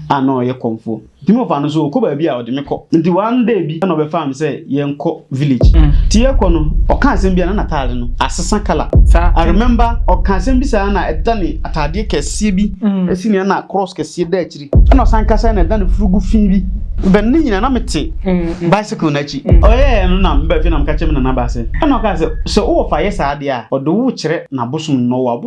a na ɔyɛ kɔmfoɔ. Nti me wɔfa no so ɔkɔ baabi a ɔde me kɔ. Nti one day bi na ɔbɛfaa me sɛ yɛnkɔ village. Nti yɛkɔ no ɔka asɛm bi a na n'ataade no asesa colour. I remember ɔka asɛm bi saa na ɛda ne ataadeɛ kɛseɛ bi si ne na cross kɛseɛ da akyiri. Ɛna ɔsan kasa na ɛda ne furugu fii bi. But ne nyinaa na mete bicycle no akyi. Ɔyɛɛ no na meba fie na meka kyerɛ me nana baa sɛ ɛna ɔkaa sɛ sɛ wo wɔfa yɛ saa adeɛ a ɔde wo rekyerɛ n'abosom no na ɔwɔ abosom.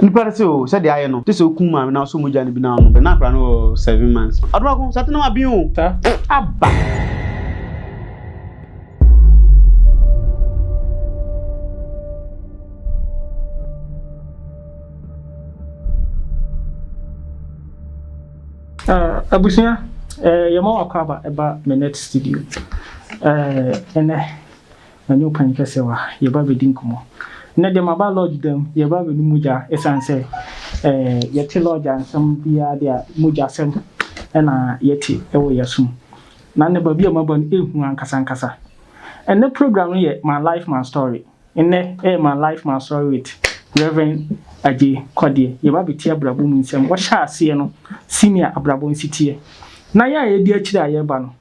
Nipa no se oo, sɛdeɛ ayɛ no, gye sɛ wokum maame na wosɔ mogya no bi na wonom. Bɛ na akwadaa no wɔ seven months. Adomaako, saa tenam aben oo. Sa, aba. Eh, abusua eh, yɛma wakɔ aba ɛba me net studio eh, ɛnɛ Ɛnyɛ wo kan kɛsɛ wa yɛba bɛdi nkɔmɔ Nnɛ deɛ maba lodge dɛm yɛba bɛnu mogya Ɛsiane sɛ ɛɛ yɛte lodge a nsɛm biara deɛ mogya sɛm na yɛte ɛwɔ yɛsom Na nnɛ baabi a maba no ɛhu ankasa ankasa Ɛnnɛ program no yɛ my life my story Nnɛ ɛyɛ my life my story with Rev Agye Kwadie Yɛba bɛtie abrabɔ mu nsɛm Wɔhyɛ aseɛ no senior abrabɔ nsi teɛ Na yɛ a yɛdi akyire a yɛba no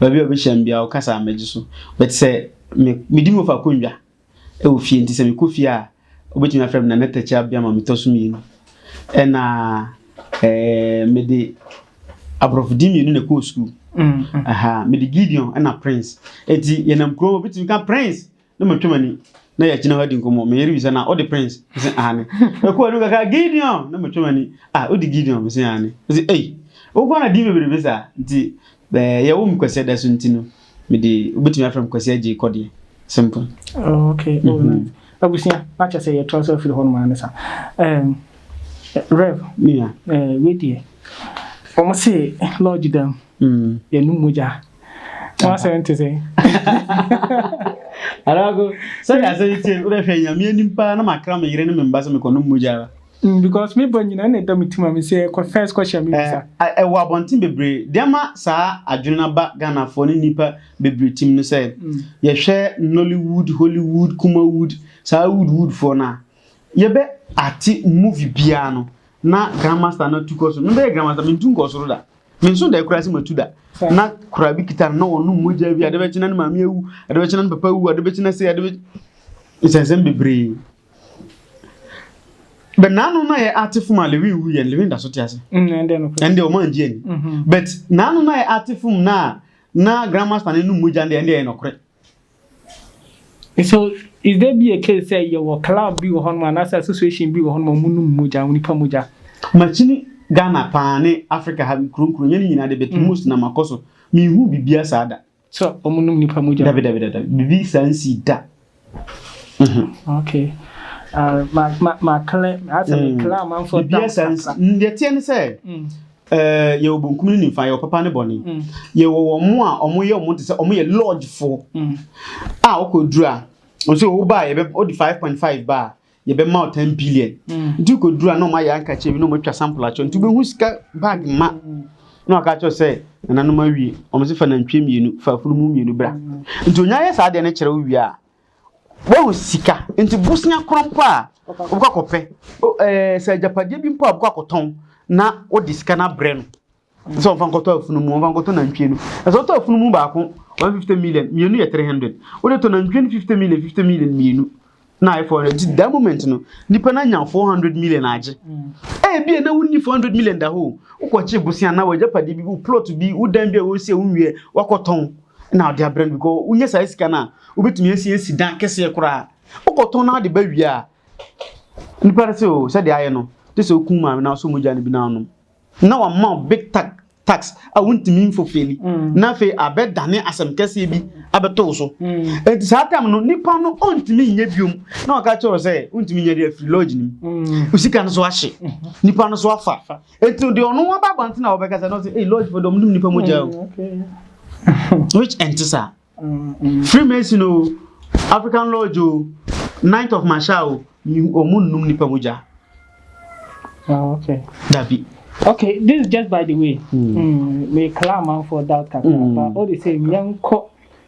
Baabi a ɔbɛhyia me biara, ɔkasa a mɛgye so. But sɛ me medi me wɔfa akonnwa wɔ fie nti sɛ mekɔ fie a, wobɛtumi afrɛ me Nana Takyi Abia ma metɔ so mmienu. Ɛna eh, mede aborɔfo din mmienu na ɛkɔɔ sukuu. Mm, mm. Aha, mede Gideon ɛna Prince. Enti yɛnam kurom a, wobɛtumi ka Prince. na matwa m'ani na yɛagyina hɔ adi nkɔmmɔ me yere bisa na wode prince sɛ aane ɛkɔ anim kakra gideon na matwa m'ani a wode gideon mesɛ aane ɛsɛ ei wokɔ na din bebrebe saa nti yɛwo me kwasi ada so nti no mede wobɛtumi afrɛ m kwasi agye kɔ deɛ simple oh, okay oh, mm-hmm. nice. abusua na kyɛ sɛ yɛtra so afiri hɔ no maa ne sa rev wedeɛ wɔn se lodge dam mm. yɛnom mogya W'asɛm te sɛ. Adaako, sɛdeɛ asɛm yi teɛ no, wodɛ hwɛ Nyame anim paa na makra me yere ne me mba sɛ mekɔnom mogya ara. Mm, because me ba nyina na ɛda me tim a me sɛ kɔ first kɔ hyɛ me bisa. Eh, ɛwɔ abɔnten bebree. Deɛ ma saa adwene no aba Ghanafoɔ ne nnipa bebree tim no sɛ, mm. yɛhwɛ Nollywood, Hollywood, Kumawood, saa wood woodfoɔ no a, yɛbɛ ate movie biara no na grandmaster no atu kɔ soro. Mebɛyɛ grandmaster, mentu nkɔ soro da. menso da kura sɛ matu da na kura bi kita na wɔnom mogya bi ade bɛkye na ne maame awu ade bɛkye na ne papa awu ade bɛkye na sɛ ade bɛkye nsɛnsɛm bebree bɛ naano na yɛ ate fom a lewin wu yɛn lewin da so te ase ɛnde mm, ɔmo angye ani mhm. but naano na yɛ ate fom na na grandmaster ne nom mogya ndeɛ ɛnde yɛ nɔkorɛ So is there be a case sɛ yɛwɔ club bi wɔ hɔ nom anaasɛ association bi wɔ hɔ nom a ɔmo nom mogya, onipa mogya? Makyini Ghana paa ne Africa ha nkuro nkuro yɛn nyinaa de but most na makɔ so me nhu bibia saa da. Sɛ ɔmo nom nipa mogya. Dabi dabi dabi bibi saa nsii da. Okay ah ma ma ma clear asɛ me clear amanfoɔ doubts kakra. Bibia saa nsii deɛ ɛteɛ ne sɛ. Ɛɛ, yɛwɔ benkum ne nimfa, yɛwɔ papa ne bɔne. Yɛwɔ wɔn a wɔyɛ wɔn te sɛ wɔyɛ lɔɔgyefo a wokɔduru a, nso woba a yɛbɛ wode five point five ba a, yɛbɛma wo ten billion. Nti wokɔduru a na wɔayɛ ankakyɛ bi na wɔatwa sample akyɛ nti wobɛhu sika bag ma na wɔaka akyerɛ sɛ nananom awie. Wɔn se fa nantwie mmienu, fa afunumu mmienu bra. Nti onya yɛ saa deɛ no kyerɛ wo wie a, Wahu sika, nti bosea koro mpo a wobɛkɔ akɔpɛ, ɛɛ sɛ agyapadeɛ bi mpo a wobɛkɔ akɔtɔn na wode sika no abrɛ no sɛ ɔmfa nkɔtɔ afunumu ɔmfa nkɔtɔ nantwie no ɛsɛ ɔtɔ afunumu baako one fifty million mmienu yɛ three hundred wode tɔ nantwie no fifty million fifty million mmienu na ayɛ four hundred nti that moment no nipa no anya four hundred million agye ebi mm. a na wonni four hundred million da hɔ wokɔkye bosia na wagya padeɛ bi wo plot bi wo dan bi a wɔsi a wonwie wakɔtɔn na ɔde abrɛ no because wonya saa sika no a wobɛtumi asi asi dan kɛseɛ koraa wokɔtɔn no ade ba wie a nipa no sɛ o oh, sɛdeɛ ayɛ no te sɛ wokum maame no asɔ mogya no bi no anom na wama big tax tax a wontumi mfofeli mm. na afei abɛdane asɛm kɛseɛ bi abɛto wo so mm. enti saa tam no nipa no ɔntumi nyɛ biom na ɔka kyerɛ sɛ wontumi nyɛ de afiri lodge no mu mm. wo sika no so ahye mm-hmm. nipa no so afa Etu deɛ ɔno waba abɔnten a wɔbɛka sɛ no sɛ ei lodge fo dɔm dum nipa mu gya o. Mm, Which ɛnte saa. Mm, mm. Freemason o, African lodge o, Knight of Masha o, ɔmo nnum nipa mu gya. Ah, okay. Dabi. Okay, this is just by the way. Mm. Mm, me kala man for that kakra. Mm. But all the same, yɛnkɔ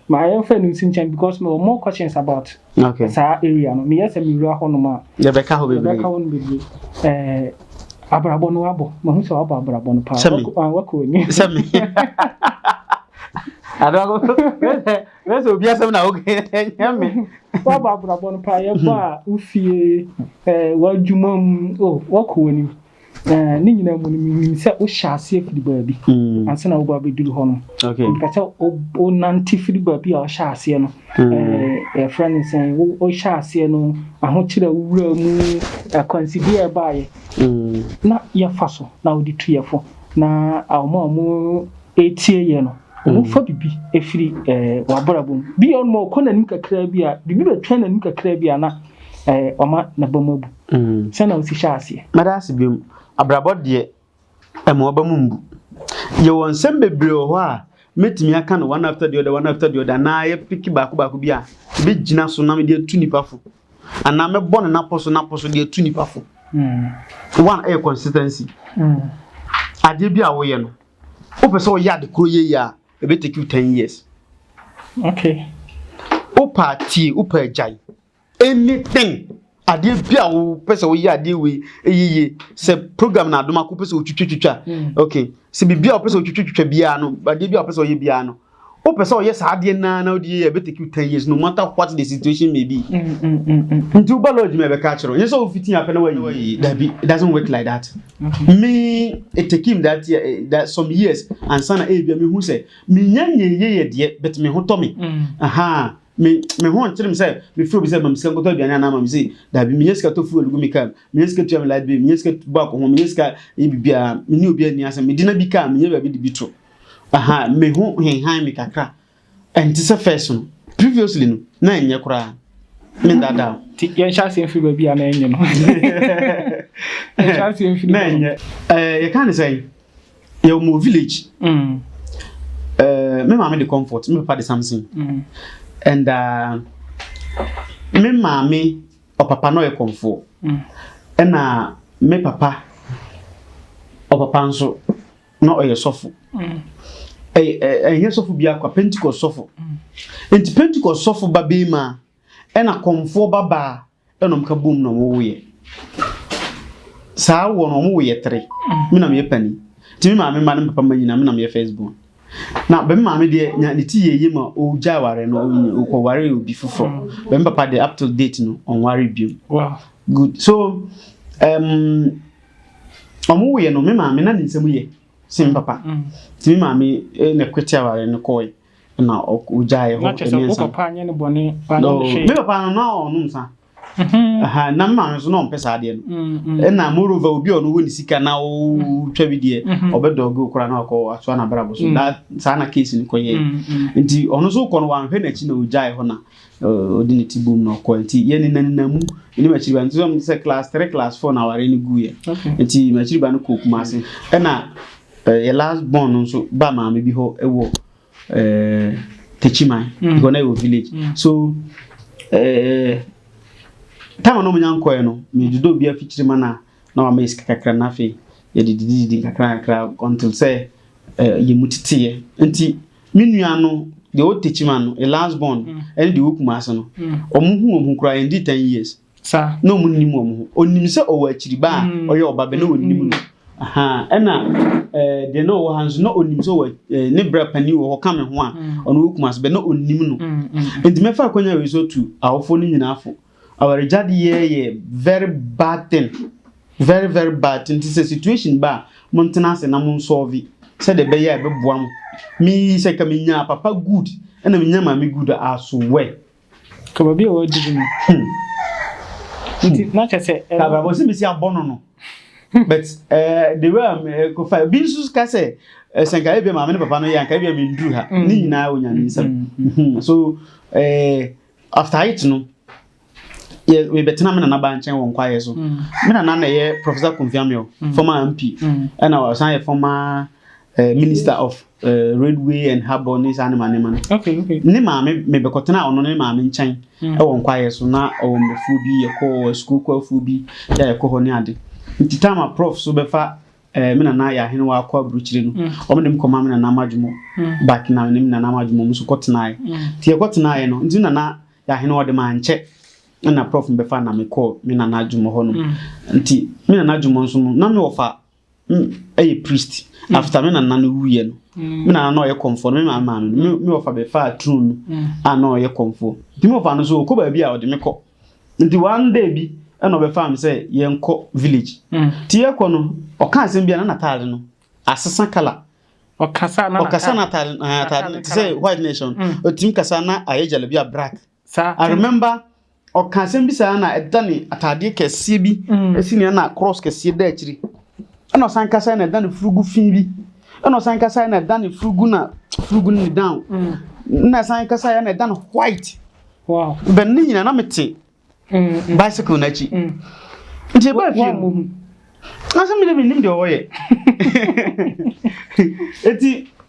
Maa yɛn fɛ no nsi nkyɛn because mewɔ more questions about okay. saa area no. Meyɛ sɛ mewura hɔ nom a. Yɛbɛka hɔ bebree. Yɛbɛka hɔ no bebree. Ɛɛ abrabɔ no wabɔ. Mahu sɛ wabɔ abrabɔ no paa. Sɛmi. Wakɔ ani. Sɛmi. Adogo, where's the obia sem na okay? Nyame. Wa ba brabon pa ye ba ufie eh wadwuma mu oh wakɔ wani. Eh, ne nyinaa mu no menim sɛ wohyɛ aseɛ firi baabi mm. ansa na woba bɛduru hɔ no mpɛ sɛ wonante firi baabi a ɔhyɛ aseɛ no mm. eh, yɛfrɛ no sɛn wohyɛ aseɛ no ahokyerɛ wowura mu akwansideɛ a ɛbaeɛ mm. na yɛfa so na wode tu yɛfo na ɔma a ɔmo ɛtie yɛ no ɔmofa biribi ɛfiri eh, wabrabɔ mu bi ɔnoma ɔkɔ n'anim kakraa bi a biribi bɛtwa n'anim kakraa bi a na ɔma n'abam abu Mm. Sɛ na wosi hyɛ aseɛ. Mɛda ase biom. Abrabɔ deɛ, ɛma ɔba mu mbu. Yɛwɔ nsɛm bebree wɔ hɔ a, mɛtumi aka no one after the other, one after the other, anaa yɛ piki baako baako bi a, ebi gyina so na mede atu nipa fo. Anaa mɛbɔ no napɔ so napɔ so de atu nipa fo. Mm. One ɛyɛ consistency. Mm. Adeɛ bi a woyɛ no, wopɛ sɛ woyɛ ade koro yɛ yɛ a, ɛbɛtake you ten years. Okay. Wopɛ atie, wopɛ agyae. Anything adeɛ bi a wopɛ sɛ woyɛ adeɛ wei yiye sɛ program na adom ako pɛ sɛ wotwitwitwitwa mm. ok sɛ biribi a wopɛ sɛ wotwitwitwitwa biara no adeɛ bi a wopɛ sɛ ɔyɛ biara no wopɛ sɛ ɔyɛ saa adeɛ naa na wode yɛ ɛbɛtake you ten years no matter what the situation may be mm, mm, nti woba lodge ma ɛbɛka akyerɛ nyɛ sɛ wofiti apɛ na wayi dabi it doesn't work like that mm-hmm. me it take him that, year, eh, that some years ansa na ɛbia mehu sɛ menya nyɛyɛ yɛ deɛ but me ho tɔ me aha Me me ho nkyerem sɛ mefrɛ obi sɛ ma me sika nkɔtɔ aduane anaa ma me sei daabi menya sika tɔ fuel gu me kaa mu menya sika tua me light bill menya sika bɔ akɔho menya sika yɛ biribiara me ne obi ani asɛm mede na bi kaa menyɛ baabi de bi to aha me ho henhan me kakra ɛnte sɛ first no previously no na ɛnyɛ koraa me dada nti yɛnhyɛ aseɛ mfiri baabi a na ɛnyɛ no yɛnhyɛ aseɛ mfiri na ɛnyɛ eh, yɛka ne sɛn yɛwɔ mu village mm. eh, me maame de comfort me papa de something mm. and uh, me maame ɔpapa no ɔyɛ kɔmfoɔ mm. ɛna me papa ɔpapa nso na ɔyɛ sɔfo ɛnyɛ sɔfo bi akwa pentecost sɔfo nti pentecost sɔfo ba bɛyi ma ɛna kɔmfoɔ ba baa ɛna ɔmo ka bom na ɔmo wo yɛ saa wɔ no ɔmo wo yɛ tere mm. mi na mi yɛ pani ti mi maame ma ne papa ma nyina mi na mi yɛ first born na bɛn maame deɛ nya ne ti yɛ yie ma ɔgya aware no ɔkɔ ware obi foforɔ mm. bɛn papa deɛ up till date no ɔnware biom good so um, ɔmo wo yɛ no mi maame na ne nsɛm yɛ si mi papa mm. ti mi maame eh, na ɛkwete aware no kɔɔ yɛ. na ɔgyae hɔ. Na kyerɛ sɛ wo papa anyɛ no bɔne wanyɛ no hwee. Me papa no na ɔnom nsa. Mm-hmm. Na me maame nso na ɔmpɛ saa adeɛ no. Mm-hmm. Ɛna moreover obi a ɔno wɔ ne sika na ɔtwa bi deɛ mm-hmm. ɔbɛdɔge wo koraa na wakɔ atoa n'abrabɔ so. Da saa na case no kɔyɛ. Nti ɔno nso kɔ no wanhwɛ n'akyi na ɔgyae hɔ na ɔde ne ti bom na ɔkɔ. Nti yɛ ne nanina mu ne makyiri ba nti sɛ class three class four na aware no guiɛ. Nti makyiri ba no kɔ Kumase. Ɛna Yɛ last born no nso ba maame bi hɔ wɔ eh, Techiman mm. hɔ na yɛ wɔ village mm. so eh, tam a na ɔmo nya nkɔɛ no medodo obi afikyiri ma na na wama esika kakra na afei yɛde didididi kakra kakra until sɛ eh, yɛ mu teteɛ nti me nua no deɛ ɔwɔ Techiman no yɛ last born mm. ɛne deɛ ɔwɔ Kumasi no ɔmo hu ɔmo kura yɛn di ten years. Sa na ɔmo nnim wɔn ho. Ɔnim sɛ ɔwɔ akyiriba a mm. ɔyɛ ɔba bɛ na ɔnim no. Ɛna eh, deɛ na ɔwɔ ha nso na ɔnim sɛ ɔwɔ eh, ne brɛ panin wɔ hɔ ka me ho a mm. ɔno wɔ kuma so bɛ na ɔnim no. Mm, Nti mɛfa akwanya wei so tu awofoɔ no nyinaa fo. Awaregyadeɛ yɛ very bad thing very very bad thing nti sɛ situation ba a montena ase na monsɔɔve sɛdeɛ ɛbɛyɛ a ɛbɛboa mo. Me sɛ ka menya papa good ɛna menya maame good a asowɛ. Ka baabi a wɔadidi no. Hmm. Nti hmm. na kyɛ sɛ. Ka baabi a wɔsi abɔ no no. Hmm. But eh, the way I'm eh, kofa bi nso ka sɛ eh, sɛ nka ebi maame ne papa no yɛ nka ebi a mi ndu ha. Ne nyinaa wɔ nyame nsam. So after it no yɛ yɛbɛtena me nana ba nkyɛn wɔ nkwayɛ so mm. me nana na ɛyɛ professor Kofi Amio mm. former MP mm. ɛna ɔsan yɛ former eh, minister of Eh, Ridgway and Harbor ne saa nema nema no okay, okay. ne maame mebɛkɔtena ɔno ne maame nkyɛn mm. ɛwɔ nkwaeɛ so na ɔwɔ mmafuo bi yɛkɔ sukuu kwafoɔ bi yɛ yɛkɔ hɔ ne ade nti tam a prof so bɛfa eh, me nana yɛ ahene wɔ akɔ aburukyire no mm. ɔmo de me kɔma me nana amadwomɔ mm. back na ne me nana amadwomɔ mo so kɔtenaeɛ nti yɛkɔtenaeɛ no nti nana yɛ ahene ɔde ma nkyɛ ɛna prof bɛfa na mekɔɔ me nana adwomɔ hɔ no nti me nana adwomɔ nso no na mewɔ fa ɛyɛ priest mm. after me nana no wuyɛ no mm. me nana na ɔyɛ kɔmfoɔ no me maa maa no me ɔfa bɛfaa turo no mm. a na ɔyɛ kɔmfoɔ nti me ɔfa no so ɔkɔ baabi a ɔde me kɔ nti one day bi ɛna ɔbɛfaa me sɛ yɛnkɔ village nti yɛkɔ no ɔka asɛm bi a na nataade no asesa kala ɔkasa na atade atade te sɛ white nation ɔtumi kasa na ayɛ gyalabi a black Saa I remember ɔka asɛm bi saa na ɛda ne ataadeɛ kɛseɛ bi mm. si nea na cross kɛseɛ da akyiri ɛna ɔsan kasa na ɛda ne furugu fi bi ɛna ɔsan kasa na ɛda ne furugu na furugu ne down mm. na ɛsan kasa na ɛda ne white wow bɛn ne nyina na mete mm, bicycle n'akyi nti ɛbaa fie mu asɛm bi de menim deɛ ɔyɛ ɛti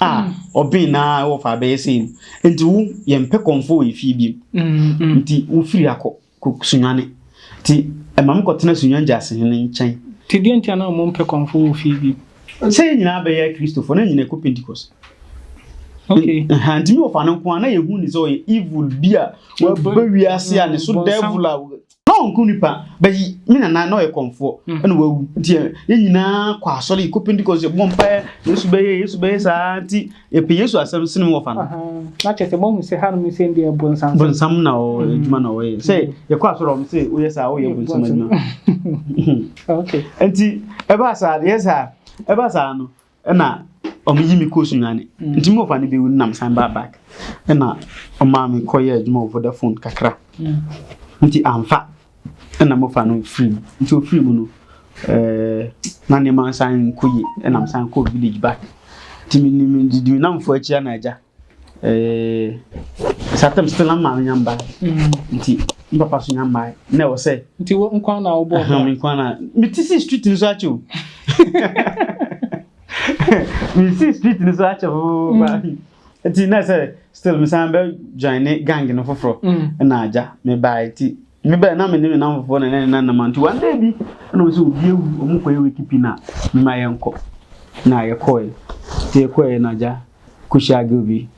a ɔben na ɛwɔ fa abɛyɛ sei no nti wo yɛmpɛ kɔmfo wɔ efie biem nti wofiri akɔ kɔ sunwane nti ɛma me kɔtena sunwan gyase no nkyɛn nti deɛ nti anaa mo mpɛ kɔmfo wɔ fie biem sɛ yɛn nyinaa bɛyɛ kristofo na nyinaa kɔ pentecost Okay. Nti mi wɔfa no nko a na yɛhu ne sɛ ɔyɛ evil bi a waba wiase a ne so devil a Na ɔnkum nipa, but he, me nana na ɔyɛ kɔmfoɔ, mm. ɛna wawu. Nti eh, yɛn nyinaa kɔ asɔre, yɛkɔ Pentecost, yɛbɔ mpaeɛ, Yesu bɛyɛ, Yesu bɛyɛ saa, nti yɛpɛ Yesu asɛm sene mu wɔfa no. Na kyerɛ sɛ mohu sɛ hanom sɛ deɛ bonsam bonsam na ɔwɔ mm. adwuma na ɔyɛ. Sɛ mm. yɛkɔ asɔre ɔm sɛ woyɛ saa, woyɛ bonsam adwuma. Nti ɛbaa saa, yɛ saa, ɛbaa saa no, ɛna ɔmo yi mi kɔ sunyani mm. nti mi wɔ fa ne bi wu nam san baa back ɛna ɔmo a mi kɔ yɛ adwuma wɔ vodafone kakra mm. nti anfa ɛna mo fa no firi mu nti ofiri mu no ɛɛ na nneɛma nsan nkɔ yie ɛna mo san kɔ village back nti mi ni mi didi mi nam fo akyi ana agya Eh, saa tam sɛ na maame nya mbae mm. nti me papa so nya mbae na ɛwɔ sɛ nti wo nkwa na wobɔ ɔba me nkwa na mete si street no so akyɛ o mesi street no so akyɛ o mm. nti na sɛ still mesan bɛ join ne gang no foforɔ mm. na agya mebae nti mebɛ na mene me nam foforɔ na ne na nam nti one day bi na ɔsɛ obi awu ɔmo kɔyɛ wikipi na mema yɛnkɔ na yɛkɔɛ nti yɛkɔɛ na agya Kushia girl bi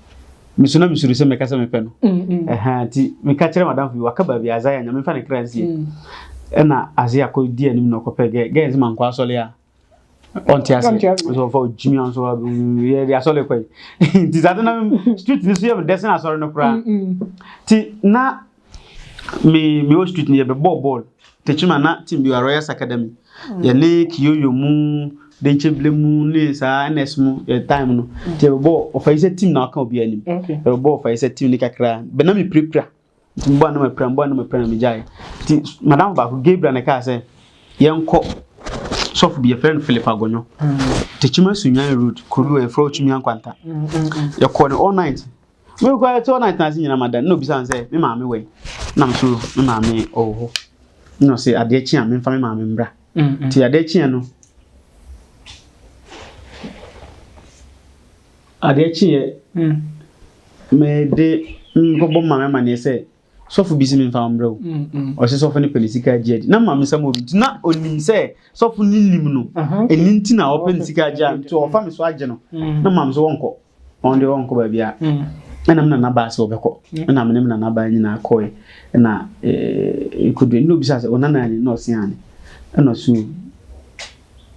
mesu na mesuru sɛ mɛka sɛ mepɛ no mm, mm. ɛha nti meka kyerɛ madamfo bi waka baabi aza yɛ nyame mfa ne kra nsie mm. ɛna ase akɔdi anim na ɔkɔpɛ gɛ gɛ nse mankɔ asɔle a ɔnte ase nso ɔfa ɔgyimi a nso yɛde asɔle kɔ yi nti saa de na street no so yɛ medɛsen asɔre no koraa nti na me me wɔ street no yɛbɛbɔɔ bɔɔl tekyim a na team bi wɔ royals academy mm. yɛne kiyoyo mu denkyebile mu ne saa ns mu yɛ time no mm. nti yɛbɛbɔ ɔfa yi sɛ team na ɔka obi anim yɛbɛbɔ ɔfa yi sɛ team ne kakra bɛ na mepirapira nti mbɔ anam apira mbɔ anam apira na megyae nti madam baako gabriel na ɛkaa sɛ yɛnkɔ sɔfo bi yɛfrɛ no philip agonyo mm. tekyim asunwan road kuro bi wɔ yɛfrɛ ɔtumi ankwanta yɛkɔɔ no all night Me kura ɛte hɔ na ɛtena ase nyinaa ma da na obisa sɛ me maame wɛn na nso me maame ɔwɔ hɔ na ɔsɛ adeɛ kye a memfa me maame mbra nti adeɛ kye no adeɛ kye yɛ mede nkɔbɔ maame amaneɛ sɛ sɔfo bi si memfa mbra o ɔsɛ sɔfo ne pɛne sika agye adi na maame sɛ mo nti na onim sɛ sɔfo ne nim no ɛni nti na ɔpɛ ne sika agye a nti ɔfa me so agye no na maame sɛ wɔnkɔ wɔn deɛ wɔnkɔ baabi a ɛna me nana baa sɛ wɔbɛkɔ ɛna me ne me nana baa nyinaa kɔɛ ɛna ɛkɔdu ɛna obisa sɛ ɔna nani na ɔse ane ɛna so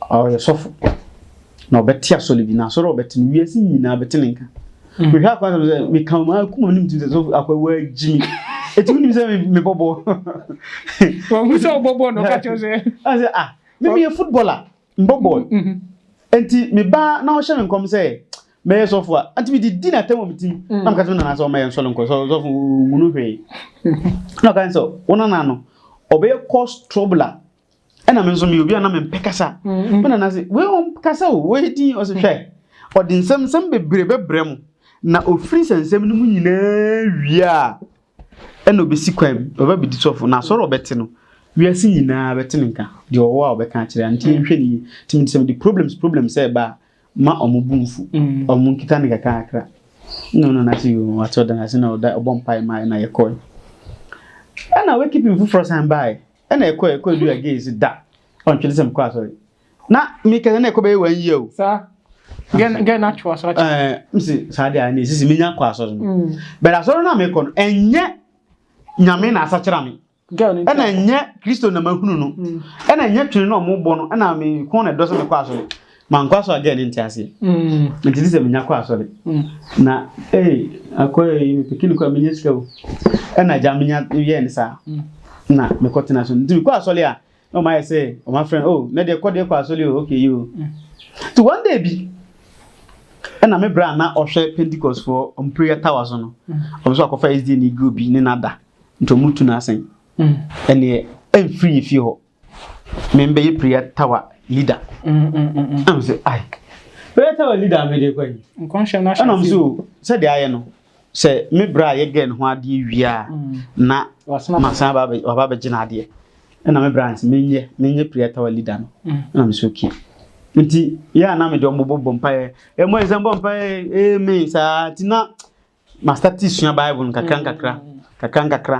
ɔyɛ sɔfo na ɔbɛte asɔre bi na asɔre a ɔbɛte no wiase nyinaa bɛte ne nka mm. mehwɛ akɔ asɛm sɛ meka mu akoma no mtim sɛ sɔfo akɔ waagyi me ɛtumi nim sɛ mebɔbɔ wɔhu sɛ wobɔbɔ no ka kyɛw sɛ asɛ ah memeyɛ footballer Mbɔbɔr. Ntsi me ba na ɔhyɛ me nkɔm dɛ mɛyɛ sɔfo a, antse medze dzi no atam wɔ me tsir mu, na mekã kyerɛ me nana dɛ ɔmma yɛnsɔ no nkɔ sɔfo mu, onnhu no hwee. Nna ɔkã dɛ wo nana no ɔbɛyɛ cause trouble a, nna me so meyɛ obi a nna memmpɛ kasa. Me nana se, wei ɔnnkasa o, ɔyɛ dzinn. Ɔse hwɛ, ɔdze nsɛmnsɛm beberee bɛbrɛ mo, na ofir nsɛnsɛm no mu nyina wie a, ɛna ɔbɛsi kwan mu, ɔba bɛdi sɔfo, na asɔre ɔbɛte no, wiase nyinaa bɛte ne nka, deɛ ɔwɔ a ɔbɛka akyerɛ a, nti yɛnhwɛ ne yie. Nti mede sɛ mede problems problems sɛ ɛba a, ma ɔmo bu mfu, mm. ɔmo nkita ne kakrakra. Na ɔno na ase yɛ ɔte ɔda ase na ɔda ɔbɔ mpae ma na yɛkɔe. Ɛna wakeeping foforɔ san baeɛ, ɛna ɛkɔe ɛkɔe du again si da, ɔntwene sɛ mekɔ asɔre. na meka sɛ na ɛkɔ bɛyɛ wɔn yie o. saa gɛn na atwe asɔre kyɛ. ɛɛ msi saa deɛ ne sisi menya kɔ asɔre no mm. bɛrɛ asɔre no a mekɔ no ɛnyɛ nyame na asakyera me ɛna ɛnyɛ kristo na mahunu no mm. ɛna ɛnyɛ twene na ɔmo bɔ no ɛna me kɔn na ɛdɔ sɛ mekɔ asɔre mankɔ asɔre agɛ ne nte aseɛ mm. nti sɛ menya kɔ asɔre na ee akɔ ee mepekini kɔ a menya sika o ɛna agya menya yɛɛ ne saa na mekɔ tena so nti mekɔ asɔre a na wɔn ayɛ sɛ wɔn afrɛ oh na deɛ kɔ deɛ kɔ asɔre o okay yi o ti one day bi ɛna me bra na ɔhwɛ pentecost foɔ wɔn prayer tower so no mm. wɔn nso akɔfa sd ne group bi ne nada nti wɔn tu n'asen mm. ɛneɛ ɛnfiri yɛ fie hɔ me mbɛyɛ prayer tower leader ɛna mo sɛ ai prayer tower leader mi de kɔ yi ɛna mo so sɛ de ayɛ no sɛ me bra a yɛgɛ ne ho adeɛ wie a na masan waba bɛgye no adeɛ ɛna me bra nti menyɛ menyɛ prayer tower leader no ɛna me sɛ okay nti yɛ a na mede ɔmo bɔbɔ mpaeɛ ɛmɔ yɛ sɛ mbɔ mpaeɛ amen saa nti na mastate sua bible no kakra nkakra kakra nkakra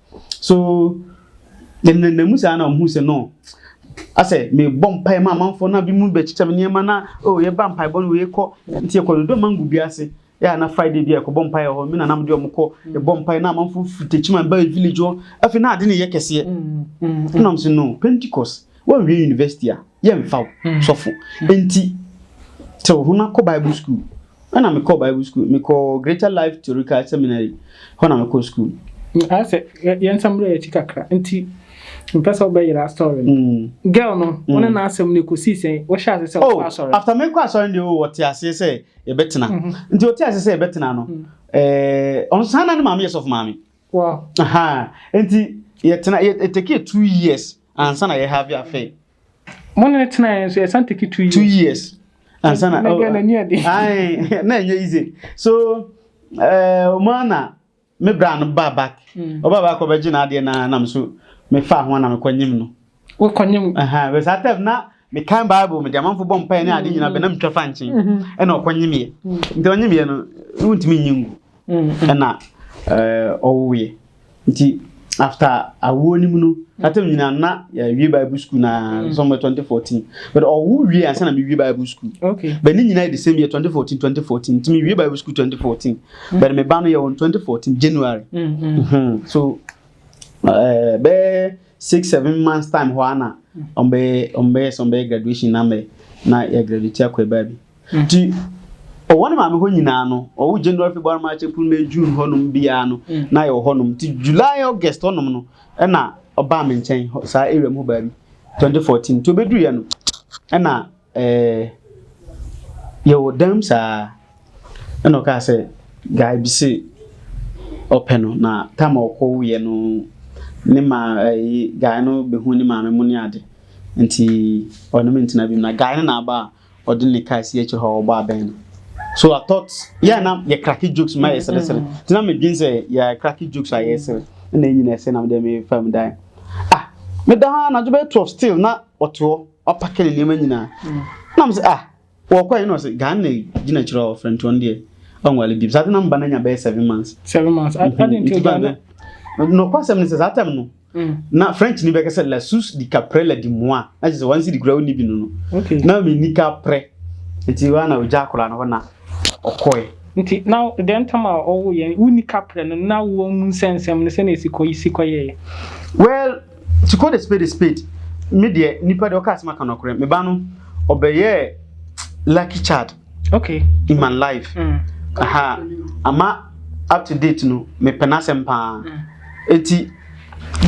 So yɛnenam mu saa na wɔhu sɛ no asɛ mebɔ mpae ma amanfoɔ na bi mu bɛkyekyɛ me nneɛma na o oh, yɛba mpaebɔ no yɛkɔ nti yɛkɔ dodo mango bi ase yɛ na friday bi a yɛkɔbɔ mpae wɔ hɔ me nanam de ɔmo kɔ mm. yɛbɔ mpae na amanfoɔ firi tekyima ba village hɔ afei na ade ne yɛ kɛseɛ mm, mm, ɛnam sɛ no pentecost wɔnwie university a yɛmfa wo sɔfo nti sɛ wo ho no akɔ bible school Ɛna me kɔɔ bible school me kɔɔ greater life theorical seminary hɔ na me kɔɔ school. ayɛ sɛ yɛn nsɛm berɛ yɛ akyi kakra nti mpɛ sɛ wobɛyera story no mm. girl no mm. wone n'asɛm no ɛkɔsii sɛn wohyɛ ase sɛ wokɔ oh, asɔre after mekɔ asɔre deɛ o oh, wɔte aseɛ sɛ yɛbɛtena mhm. nti wɔte aseɛ sɛ yɛbɛtena no mm. eh, ɔno saa na ne maame yɛ sɔfo maame nti yɛtena yɛtɛkɛ two years ansa na yɛhave afɛ Mo ne no tena yɛn nso yɛ san take two years. Two years. Ansa na. Mɛgɛ na ni adi. Ayi na ɛnyɛ easy. So ɛɛ eh, ɔmo ana me bra no ba back. Mm. Ɔba back ɔbɛgye na adeɛ na nam so me fa ho na me kɔ nyim no. Wo kɔ nyim. Ɛhɛn bɛ saa tɛm na me kan bible me de amanfo bɔ mpae ne ade nyina bɛ na me twa fa nkyen. Mm-hmm. Ɛna ɔkɔ nyim yɛ. Mm. Nti ɔnyim yɛ no wontumi nyi ngu. mm-hmm. ɛna eh, ɔwoeɛ nti after awoɔ no mu no atam nyinaa na yɛwie eh, bible school na mm. sɔmɛ 2014 but ɔwo wie ansa na mewie bible school but ne nyinaa yɛ the same year 2014 2014 nti mewie bible school 2014 mm. but meba no yɛ wɔ 2014 january mm-hmm. Mm-hmm. so eh, bɛɛ six seven months time hɔ ana ɔmbɛyɛ ɔmbɛyɛ sɛ ɔmbɛyɛ graduation na mɛ na yɛ graduate akɔ ɛbaa bi Ntsi ɔwɔ no maame hɔ nyina no, ɔwo January, February, March, April, May, June hɔnom biara no na yɛwɔ hɔnom. Ntsi July, August hɔnom no na ɔbaa me nkyɛn hɔ saa area mu hɔ baabi, twenty fourteen. Ntsi obeduruiɛ no na eh, yɛwɔ dan mu saa na ɔkaa sɛ guy bi se ɔpɛ no na time a ɔkɔwoeɛ no ne ma eh, guy no behu ne maame mu ne ade. Ntsi ɔne me ntena biom na guy no na aba a ɔde ne car si akyire hɔ a ɔbɔ abɛn no so i thought yɛ na yɛ cracky jokes ma yɛ seresere mm-hmm. tina mi dwen sɛ yɛ cracky jokes a yɛ sere ɛna eyi na ɛsɛ na mi dɛ mi fa mu dan ah mi da ha anadwo bɛyɛ twelve still na ɔte hɔ ɔpakɛ ne nneɛma nyinaa mm. na mi sɛ ah wɔkɔ yi na ɔsɛ ghana na gyina akyire hɔ ɔfrɛ ntoɔ no deɛ ɔnwale bi saa de na mi ba na nya bɛyɛ seven months. seven months adi nti o gya ne. nɔkɔ asɛm ne sɛ saa tɛm no. na french ni bɛka sɛ la sous di ka près la di moi na kyerɛ sɛ wansi di kura wonni bi no no na mi ni ka près nti wa na ogya akora no hɔ na ɔkɔe nti na dɛn ntam a ɔwo yɛn wonni ka prɛ no na wo mu nsɛnsɛm no sɛnea ɛsi kɔ si kɔyɛɛ well to call a spade a spade me deɛ nipa deɛ ɔka asɛm aka nɔkorɛ me ba no ɔbɛyɛɛ lucky child okay in my life mm. aha ama up to date no mepɛ n'asɛm paa mm. eti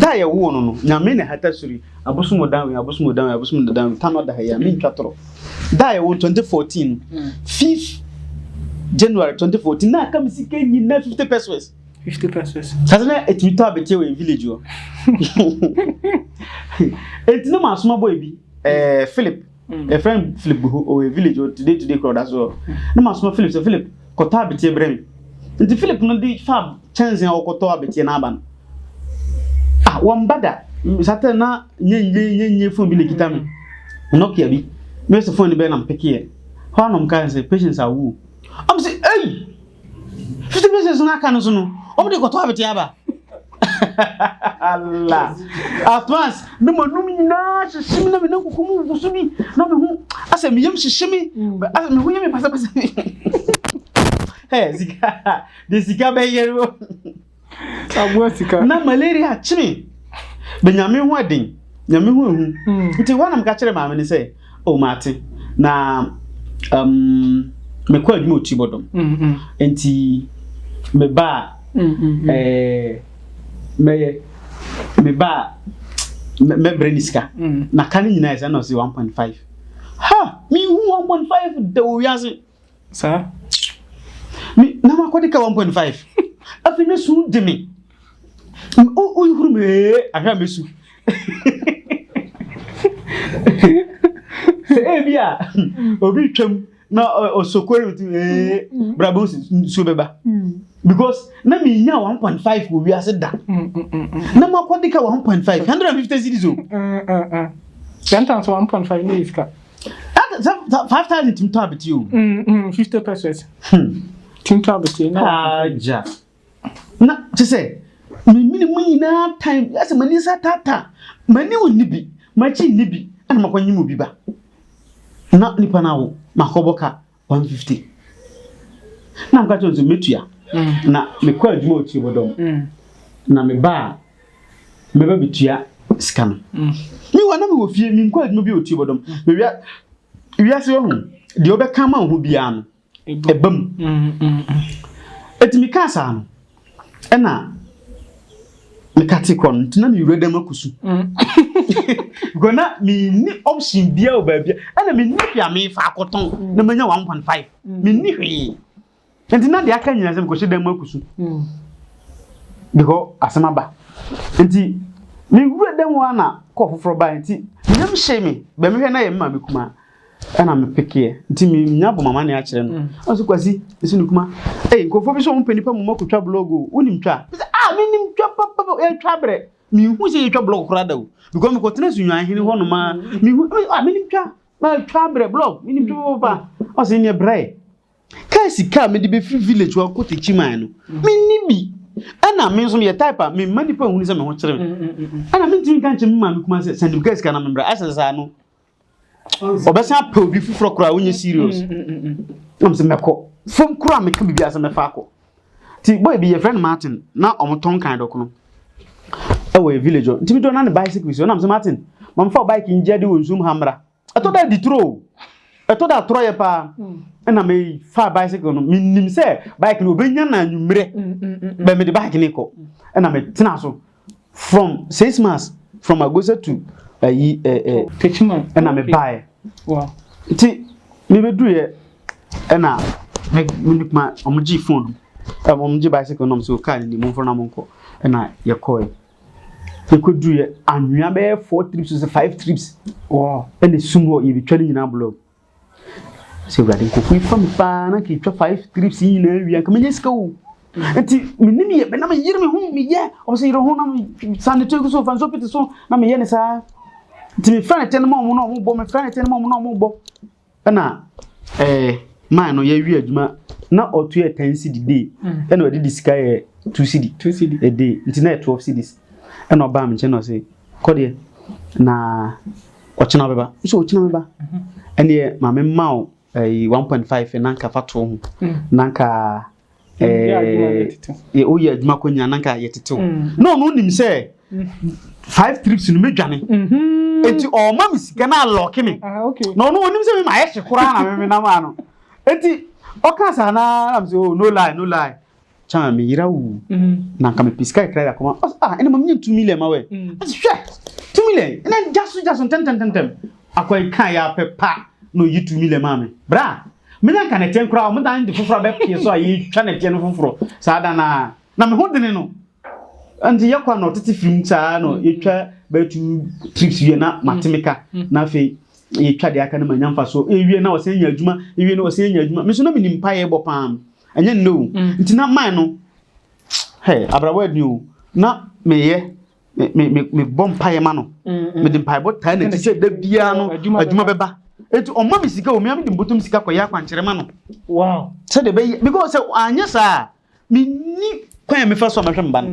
da a yɛwoo no no nyame na hata sori abosom ɔdanwe abosom ɔdanwe abosom ɔdanwe ta no ɔda ha yi a mentwa torɔ da a yɛwoo 2014 no mm. fifth january 2014 na aka me sika nyina 50 pesos 50 pesos sase na ɛtumi tɔ abɛtie wɔ village hɔ ɛnti na maasoma bɔ ebi eh, philip yɛfrɛ no philip guhu ɔwɔ village ɔ today today kora ɔda so hɔ na masoma philip sɛ philip kɔtɔ abeteɛ brɛ me nti philip no de fa kyɛnse a ɔkɔtɔ abeteɛ no aba no ah wɔmba da satɛ na nyɛnyɛ nyɛnyɛ fon bi na kita me nokia bi mɛsɛ fon no bɛyɛ na mpekeɛ hɔ a na ɔmka sɛ patience awu ɔm sɛ ei fifty pieces no aka no so no ɔmo de kɔtɔ abete aba ala atmas na mo anum nyinaa hyehye mi na mi nan kuku mu wugu so bi na mi ho asɛ mi yam hyehye mi mm. asɛ mi ho yɛ mi pasapasa ɛ sika de sika bɛyɛ no. aboa sika na malaria akyene bɛnyame ho aden nyame ho ahu hmm. nti hɔ na meka kyerɛ maame no sɛ o oh, maate na um, mekɔ adwuma ɔti bɔdɔm hmm, hmm. nti meba a eh, mɛyɛ meba a mɛbrɛ ne sika na ka no nyinaa ɛsɛ na ɔse 1.5 ha mehu 1.5 da wɔ wiase saa me na ma kɔde ka 1.5 afei na su de me o o huru me ahwɛ a mesu sɛ ebi a obi twam na osokore nti ee brabo nsuo bɛba because na me nya 1.5 wɔ wiase da na ma kɔde ka 1.5 150 cities o sentence 1.5 ne iska That sɛ five thousand tìmí tọ́ abẹ́tí o. Mm, mm, fifty pesos. Hmm. Tìmí tọ́ abẹ́tí. Ajá. Na ti sɛ mímí mu nyinaa time ɛsɛ mɛ nisa tata mɛ ni wò níbi mɛ akyi níbi ɛna mɛ kɔ nyi mu bi ba na nipa na wò mɛ akɔ bɔ ka One fifty. Na meka kyerɛ sɛ metua. Mm. Na mekɔ adwuma wɔ tiebɔdɔm. Mm. Na meba a mɛba betua sika no. Mm. Me wa na mewɔ fie menkɔ adwuma bi wɔ tiebɔdɔm. Mm. Mewia wiase wɔ ho deɛ wobɛka ma wo ho biara no ɛba mu. Ɛti mekaa saa no ɛna mekate kɔ no nti na mewura dɛm akusu because na menni option bia wɔ baabi ɛna menni hwee a mefa akɔtɔn na manya 1.5 menni hwee nti na deɛ aka nyina sɛ mekɔhyɛ dɛm akusu because asɛm aba nti mewura dɛm hɔ a na kɔɔ foforɔ baa nti meyam hyee me bɛmehwɛ na yɛ me maame kumaa ɛna me pekeɛ nti me nya bɔ mama ne akyerɛ no ɔno so kwasi ɛsi no kuma ɛyi nkurɔfoɔ bi sɛ ɔmo pɛ nipa mu mɔko twa blog o wonim twa sɛ a ah, menim twa papapa ɛtwa brɛ mehu sɛ yɛtwa blog koraa da o because mekɔ tena sunwan hene hɔ noma mehu a ah, menim twa twa brɛ blog menim twa papapa ɔsɛ neɛ brɛ kaa sika a mede bɛfiri village hɔ akɔ tekyi man no menni bi ɛna me nso yɛ type a me mma nipa nhuni sɛ me ho kyerɛ me ɛna mentumi nka nkyɛn me maame kuma sɛ sɛ nim kaa sika na me brɛ asɛ saa no ɔbɛsan apɛ obi foforɔ koraa wonyɛ serious nam sɛ mɛkɔ fam koraa meka biribi asɛ mɛfa akɔ nti boy bi yɛfrɛ no martin na ɔmotɔn kan dɔkono ɛwɔ yɛ village hɔ nti medɔ na ne bicycle so nam sɛ martin mamfa wo bike ngye ade wɔ nsum ha mmra ɛtɔ da adi turo ɛtɔ da atorɔ yɛ paa ɛna mefa bicycle no menim sɛ bike no ɔbɛnya na anwummerɛ bɛ mede bike no kɔ ɛna metena so from six months from agosa to ayi ɛ ɛ kachima ɛna me baeɛ nti mebɛduruiɛ ɛna me ne kuma wɔn gye phone ɛna wɔn gye bicycle nom so kaa ne mu mfona mo nkɔ ɛna yɛkɔɛ yɛkɔduruiɛ anwea bɛyɛ four trips sɛ five trips ɛna esum hɔ yɛbɛtwa ne nyinaa blɔk. Sɛ Awurade nkurɔfo yi fa me paa na nka twa five trips yi nyinaa wie nka menya sika o. Nti menim yɛ bɛ na meyere me ho meyɛ ɔmo sɛ yere ho na san ne tiri so fa nso pete so na meyɛ ne saa. Nti mefrɛ ne tɛn ma ɔmo na ɔmo bɔ mefrɛ ne tɛn ma ɔmo na ɔmo bɔ. Ɛna ɛɛ eh, maa no yɛwie adwuma na ɔto yɛ ten cedi day mm. ɛna ɔde de sika yɛ two cedi a day nti na yɛ twelve cedis ɛna ɔbaa me nkyɛn na ɔse Kɔ deɛ, na ɔkyena ɔbɛba. Nso ɔkyena ɔbɛba. Ɛneɛ maame mma wo ɛyi one point five na nka fa too ho. Mm. Na nka ɛɛ woyɛ adwuma kɔ nyina na nka yɛ tete wo. Mm. Na ɔno nim sɛ mm. five trips no mɛdwane. Mm-hmm. Eti ɔma me sika na alɔke me. Ah, na ɔno ɔnim sɛ mema ayɛ hye koraa na meme nam ano. Eti ɔka saa na nam sɛ oh no lie no lie. kyan me yera wu na nka me pisika kra ya koma ɔs ah ɛna mam nye 2 million ma wɛ ɔs hwɛ 2 million ɛna gya so gya so ntɛntɛntɛntɛm akwa yi kan ya pɛ pa na oyi 2 million ma me bra me na nka na ɛteɛ nkora ɔmo dan de foforɔ abɛ pie so a yɛtwa na ɛteɛ no foforɔ saa da na na me ho dene no nti yɛ kwa na ɔtete firim saa na yɛtwa bɛyɛ two trips wie na mate me ka na afei yɛtwa deɛ aka no ma nya mfa so ewie na ɔsɛ nya adwuma ewie na ɔsɛ nya adwuma me so na menim pa yɛ bɔ paa ɛnyɛ nnɛ o mm. nti na man no hɛ abrawa ni o na meyɛ mebɔ mpaeɛ ma no mm, mede mpaebɔ taa n'akyi sɛ da biara no adwuma bɛba nti ɔma me sika o mea mede mbɔtɔm sika kɔyɛ akwankyerɛ ma no sɛdeɛ bɛyɛ because sɛ anyɛ saa menni kwan a mefa so a mɛhwɛ mba no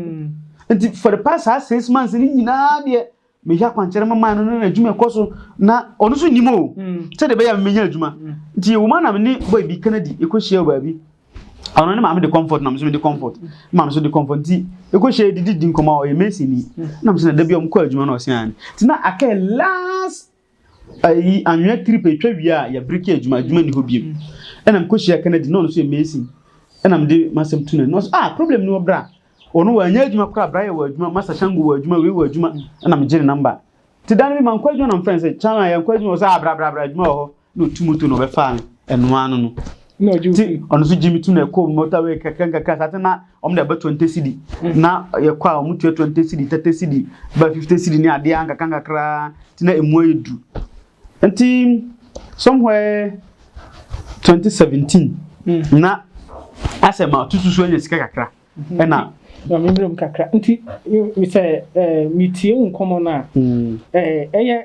nti for the past saa six months no nyinaa deɛ meyɛ akwankyerɛ ma man no na adwuma ɛkɔ so na ɔno nso nim o hmm. sɛdeɛ ɛbɛyɛ a menya adwuma hmm. nti yɛwɔ mu a na me ne boy bi kennedy ɛkɔhyia wɔ baabi ɔno ne maame de comfort nam so de comfort maame so de comfort nti eko hyɛ didi di nkɔmɔ a ɔyɛ mason ni nam so na dabi ɔmo kɔ adwuma na ɔsɛn ani ti na akɛ last Ayi anwea trip etwa wie a yɛ break yɛ adwuma adwuma ni hɔ biem ɛna mekɔ hyia Kennedy na ɔno nso yɛ mason ɛna mede masɛm tu no no ah problem ni wɔ bra ɔno wɔ anya adwuma koraa bra yɛ wɔ adwuma masa shango wɔ adwuma wei wɔ adwuma ɛna megye ne namba nti dan bi ma nkɔ adwuma na mfrɛ sɛ kyan a yɛnkɔ adwuma wɔ sɛ ah bra bra bra adwuma wɔ hɔ na ɔtu moto na ɔbɛfaa no ɛnoa no no nti ɔno nso gye me tu no ɛkɔ motorway kakra nkakra saa te na wɔn de ɛbɛ twenty cedi na yɛkɔ a wɔn tua twenty cedi thirty cedi bɛ fifty cedi ne adeɛ ankakra nkakra ti na emu ayɛ du nti somewhere twenty seventeen hmm. na asɛ ma tutu so anya sika kakra hmm. ɛna. na mi mmerɛ mu kakra nti sɛ metie nkɔmɔ no a ɛyɛ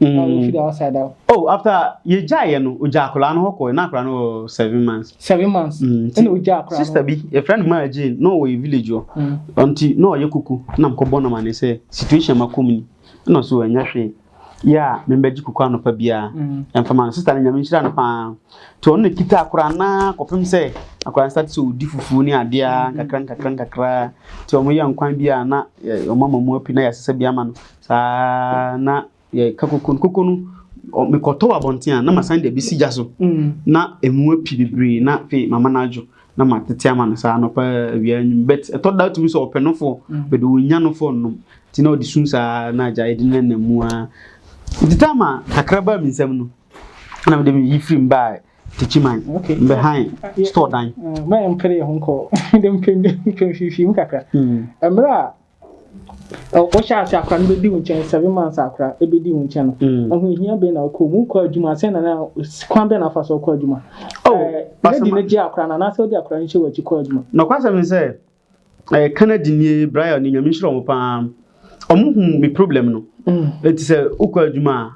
Mm. Uh, we feel outside that. Oh, after you jai you know, uja akora no hoko, na akora no seven months. Seven months. Mm. Ena uja akora. Sister bi, a friend of mine Jane, no we village yo. Mm. Until no ye kuku, na mko bona mane se situation makumni. No so enya hwe. Yeah, member ji kuku anopa bia. Mm. And for my sister nya me shira no pa. To on kita akora na kopem se akora start so di fufu ni ade a kakra kakra kakra. To mo ye nkwan bia na omama mu api na yasese bia ma no. Saa ara na yɛka koko no. Koko no, mekɔtɔw abɔnten a, na masan de abi si gya so. Na emu api bebree, na afei mama no adwo na matete ama no saa anɔpa awia anwum but ɛtɔ da tumi sɛ ɔpɛ no fo bɛde ɔnya no fo nom nti na ɔde sum saa na agya ɛde na nam mu ara nti taa ma kakra baa me nsam no na mede me yi firi m baa tikyiman mbɛhan store dan mɛyɛ mpere yɛ ho nkɔ mede mpemfifi mu kakra mmerɛ a Ɔ, wohyɛɛ ase akora no bɛdi wo nkyɛn, seven months akora ɛbɛdi wo nkyɛn no, mm. ahohia bɛn na wokɔ mu, wokɔ adwuma, sɛ nana kwan bɛn na wofa so wokɔ adwuma? Oh, eh, lady no gye akora no anaasɛ wode akora no hyɛ w'akyi kɔ adwuma? Nɔkwasɛm ne sɛ, eh, Canada nie, Brian ne Nyame nhyira wɔn paa, wɔn hu me problem no, ɛti mm. sɛ wokɔ adwuma a,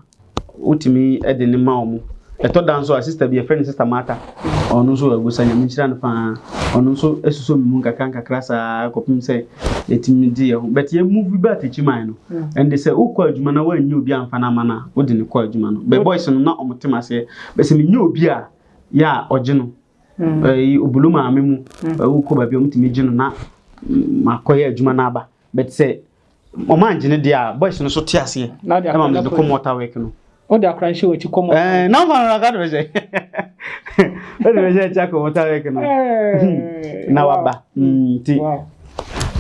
Wotumi de no ma wɔn. Ɛtɔ da nso a, sista bi yɛfrɛ no sista Martha. Ɔno nso agusa, Nyame nhyira no paa. Ɔno nso suso me mu nkakra nkakra saa kɔpem sɛ yɛtumi gye yɛn ho. But yɛ move back akyi mae no, ɛnde sɛ wokɔ adwuma na woannya obi amfa no ama no a, wode no kɔ adwuma no. Bɛ boys no na wɔte m'aseɛ. Bɛ sɛ menya obi a, yɛ a ɔgye no. Ɛyi Obolo maame mu, wokɔ baabi a wɔtumi gye no na makɔyɛ adwuma na aba. But sɛ Wɔn angye no deɛ a, boys no so te aseɛ. Na de akora na de kɔ mu ɔta work no. O de akora nhyɛ wɔn ti kɔ mu. Ɛɛ na wɔn na ka de bɛhyɛ. O de bɛhyɛ ɛkyɛ akɔ mu ɔta work no. Na waba. Nti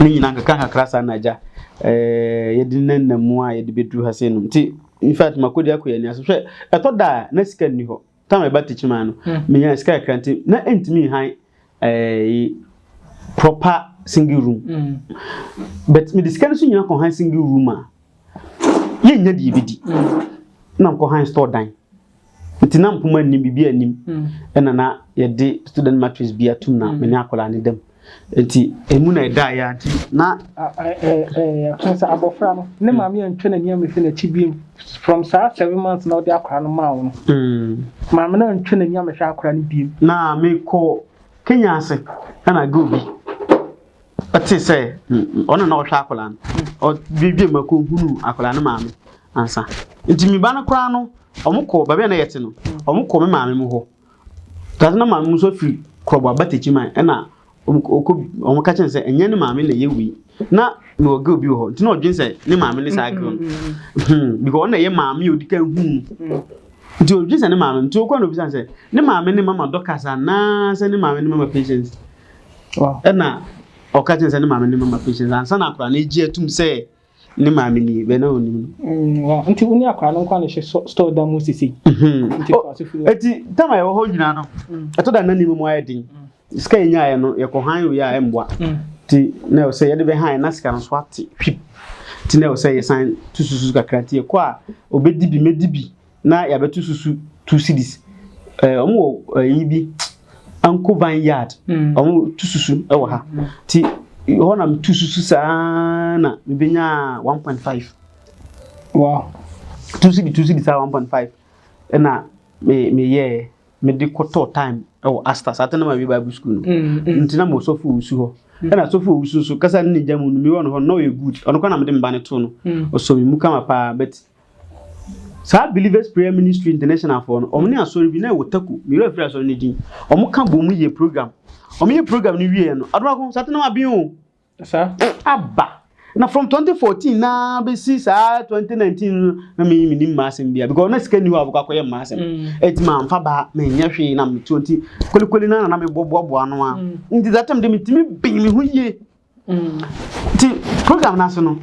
ne nyinaa nkaka nkakra saa na agya. Ɛɛ yɛde ne nna mu a yɛde bɛduru ha sɛ nom. Nti in fact makɔdi akɔ yɛ ni ase hwɛ ɛtɔ da a na sika nni hɔ. tam ɛba tikyiman no hmm. menya sika kakra nti na ɛntumi nhan ɛɛ proper single room hmm. but mede sika no so nyina kɔhan single room a yɛnnya deɛ bɛdi hmm. na nkɔhan store dan nti na mpoma anim biribi anim ɛna na yɛde student mattress bi atum na mene akwadaa ne dam Nti emu na ɛdaeɛ a nti na. Ɛkyerɛ sɛ abɔfra no ne maame antwa n'ani ammɛhwɛ n'akyi biom from saa seven months na ɔde akora no maa wo no. Hmm. Maame no antwa n'ani ammɛhwɛ akora no biom. Na mekɔ Kenya ase ɛna girl bi ɔte sɛ hmm, ɔno na ɔhwɛ akora no ɔdwedwe ma kɔ hunu akora no maame ansa nti me ba no koraa no ɔmo kɔ baabi a na yɛte no ɔmo kɔ me maame mu hɔ Dase na maame nso firi koroboa ba tekyi man ɛna ɔkɔ wɔn ka kyɛn sɛ ɛnyɛ ne maame na ɛyɛ wei na na ɔgɛ obi wɔ hɔ nti na ɔdwen sɛ ne maame ne saa girl hmm because ɔna ɛyɛ maame yɛ odi kan hu no nti ɔdwen sɛ ne maame nti ɔkɔ na obi san sɛ ne maame ne mama dɔkas anaa sɛ ne maame ne mama patience ɛna ɔka kyɛn sɛ ne maame ne mama patience ansa na akora na egye atum sɛ Ne maame ni, bɛn na onim no. Mm, nti wo ne akwadaa no nkwa ne hwɛ store da mu sisi. Mhm. Nti kɔ ase furu. Eti tam a yɛwɔ hɔ nyinaa no, mm. ɛtɔ da na ne mu ayɛ den. Mm. Sika yɛ nyaa yɛ no, yɛkɔ han wei a ɛmboa. Ti na ɛwɔ sɛ yɛde bɛ han na sika no so ate hwip. Ti na ɛwɔ sɛ yɛsan tususu kakra ti yɛkɔ a obedi bi medi bi. na yɛabɛto susu two cities ɛɛ wɔn wɔ ɛyi bi ankovan yard mm. wɔn to susu ɛwɔ ha mm. ti hɔ na to susu saa na mebɛnya one point five wow two city two city saa one point five ɛna me meyɛɛ mede kɔtɔɔ time ɛwɔ astas ate na ma wi bible school no mm, mm. nti na ma ɔsɔfo ɔwusu hɔ mm. ɛna sɔfo ɔwusu nso kasa ne ne gya mu no mewɔ no hɔ na ɔyɛ good ɔno kora na mede mba no to no ɔsɔ me mu kama paa but Saa Believers Prayer Ministry International foɔ no, wɔn ne asɔre bi na ɛwɔ Taku, me werɛ afiri asɔre no din. Wɔn ka bom yɛ program. Wɔn yɛ program no wieɛ no, adonako sate na waben o. Sa. Aba. Na from 2014 na bɛsi saa 2019 no na me me nim m'asɛm bia because na sika ni hɔ a bɛkɔ akɔyɛ m'asɛm. Mm. Eti ma nfa ba menyɛ hwee na metuo nti kolikoli na na mebɔboaboa no a. Mm. Nti that time de metumi ben me ho yie. nti program n'ase no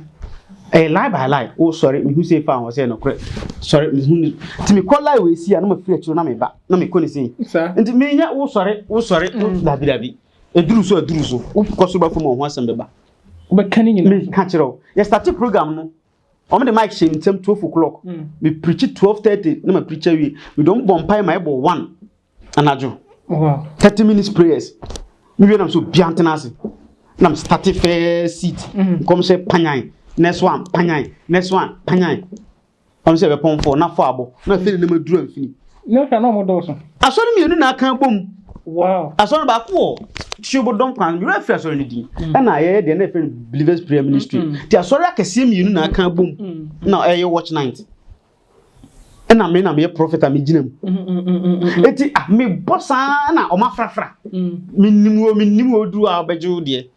ɛyɛ line by line o oh, sɔre mehu sɛ fa ho sɛ nokorɛ sɔre mehu ne nti mekɔ line wɔ esi a na mafiri akyiro na meba na mekɔ ne sei nti menyɛ wo sɔre wo sɔre wo mm. dabi dabi ɛduru so ɛduru so wokɔ so bɛfam ɔho asɛm bɛba wobɛka ne nyina meka kyerɛ wo yɛstate program no wɔn de mic hyɛ nsɛm twelve o'clock mm. me preach twelve thirty na ma preach awie me dɔm bɔ mpae ma ɛbɔ one anadwo thirty minutes prayers mi wie nam so bia ntena ase nam starte fɛɛ seat mm. nkɔm sɛ panyan next one panyan next one panyan ɔno sɛ ɛbɛpɔn fɔ na fɔ abɔ na afei ne nam aduru amfini. ne hwɛ na ɔmo dɔɔso. asɔre mmienu na aka bom. wow asɔre baako wɔ tuobo dɔm kwan mi wura firi asɔre ne din mm. ɛna ayɛyɛ deɛ na ɛfɛ believers prayer ministry ti asɔre akɛseɛ mmienu na aka bom na ɛyɛ watch night. ɛna me na meyɛ prɔfɛt a megyina mu mm, mm, mm, eti ah, mebɔ saa na ɔma frafra menim o menim o duru a ɔbɛgye wo deɛ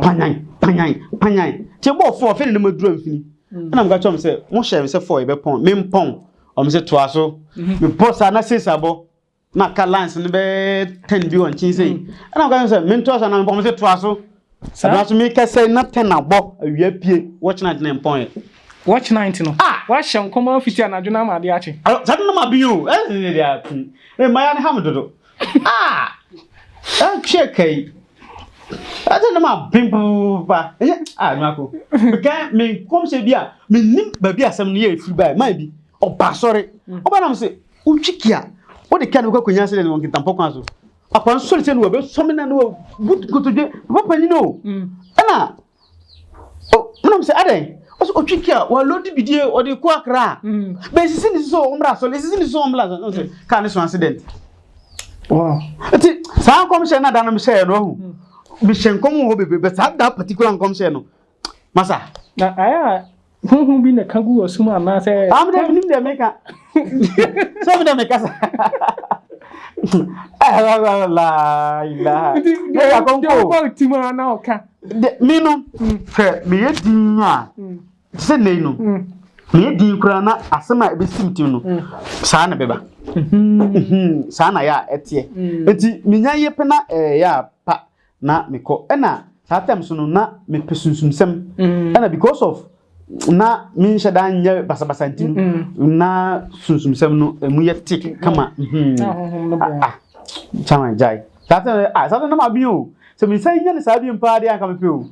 panyan panyan panyan nti ɛbɔ ɔfo ɔfɛ ne nam aduru amfini ɛna meka kyerɛ m sɛ mohyɛ me sɛ fɔ yɛbɛpɔn mempɔn ɔm sɛ toa so mebɔ saa na sesa bɔ na ka lines no bɛyɛ ten bi wɔ nkyen sei mm. ɛna meka sɛ mentoa so anaa mepɔm sɛ toa so ɛna so meka sɛ na ten abɔ awia pie watch night na mpɔn yɛ watch night no ah! wahyɛ nkɔm afiti anadwo no ama ade akye saa de no ma bi o ɛsɛ deɛ api mmaya no ha me dodo ah ɛtwe kai ɛsɛ no ma ben papa ɛyɛ ah nwako meka me nkɔm sɛ bi a menim baabi asɛm no yɛ ɛfiri bae ma bi ɔba sɔre ɔba nam sɛ Wotwi kia, wode kia no bɛkɔ akɔnya sɛ wɔ nkentampɔ kwan so. Akwa nsɔre sɛ no wɔbɛsɔ me na no wɔbu nkotodwe, papa panyin o. Mm. Ɛna, menam sɛ adɛn? Ɔsɛ ɔtwi kia, wɔalodi bidie, ɔde kɔ akra a. Mm. Bɛsisi ne sisi ɔmmra asɔre, ɛsisi ne sisi ɔmmra asɔre. Ɔsɛ mm. kaa ne so accident. Wow. Nti, saa nkɔmhyɛ no ada no mehyɛɛ no ahu. Mm. Mehyɛ nkɔm wɔ hɔ bebrebe, saa da particular nkɔmhyɛ no. Masa. Na ayɛ a honhom bi na ɛka gu wɔ sum anaasɛ. Ah, mi dɛ mi nim dɛ mi ka. Sɛ mi dɛ mi kasa. meno sɛ meyɛ din a sɛ nei no meyɛ din koraa na asɛm a ɛbɛsim tim no saa na bɛba saa na yɛ a ɛteɛ nti menya yɛ pɛ na ɛyɛ a pa na mekɔ ɛna saa time so no na mepɛ sunsumsɛm mm. ɛna because of na menhyɛ da nyɛ basabasa nti no mm. na sunsumsɛm no ɛmu yɛ tik mm. kama mhm. ah, ah. kyama gyae saa time ah, saa time na mabi o sɛ mensan nya ne saa bi mpaa deɛ anka mepɛ o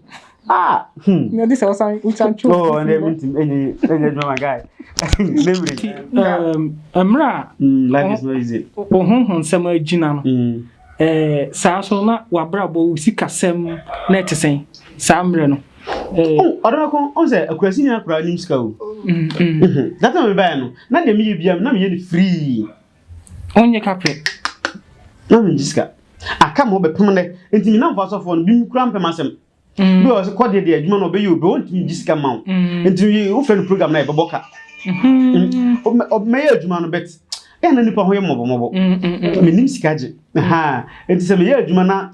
Ah, hmm. Na disa wasan utan chu. Oh, and then mintim enye enye my guy. Memory. Um, amra. Hmm, life is not easy. Ohun hun sama gina no. Hmm. Ɛɛ saa nso no, na w'abrabɔ, wo sikasɛm na ɛte sɛn saa mmerɛ no? Ɛɛ. O, ɔdɔ bɛko, ɔn sɛ akurasi ni akura nim sika o. Data mi bɛyɛ no, na deɛ mi yɛ bia, na mi yɛ ni free. Ɔn nyɛ kapɛ. Na mi ngye sika. Aka ma ɔbɛ pem nɛ, nti mi namfo asɔfoɔ no, bim kura mpɛ m'asɛm. mm. bi wɔ sɛ kɔdeɛ deɛ adwuma no ɔbɛyɛ obi ɔntumi gye sika ma wo mm. nti wofrɛ no program na ɛbɛbɔ ka mm-hmm. mɛyɛ adwuma no bɛte ɛyɛ na nipa ho yɛ mmɔbɔmmɔbɔ mm-hmm. menim sika gye nti sɛ meyɛ adwuma na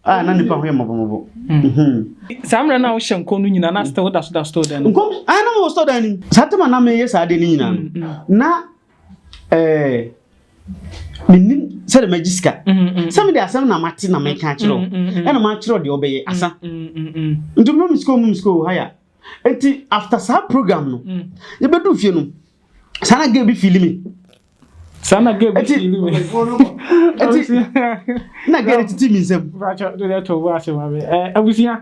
a na nipa ho yɛ mmɔbɔmmɔbɔ mm-hmm. saa mmerɛ no a wohyɛ nkɔm no nyina na sɛ woda so da store dan nkɔm a na mewɔ store dan no saa tɛma na meyɛ saa deɛ no nyinaa no na ɛɛ menim sɛde magye sika sɛ mede asɛm na mate na meka akyerɛ wo ɛna makyerɛ deɛ ɔbɛyɛ asa nti mma me sika ɔma me sika ɔ haya nti after saa program no yɛbɛdu fie no saa na gɛ bi fili me saa na gɛ bi fili me na gɛ ne tete me nsɛm abusua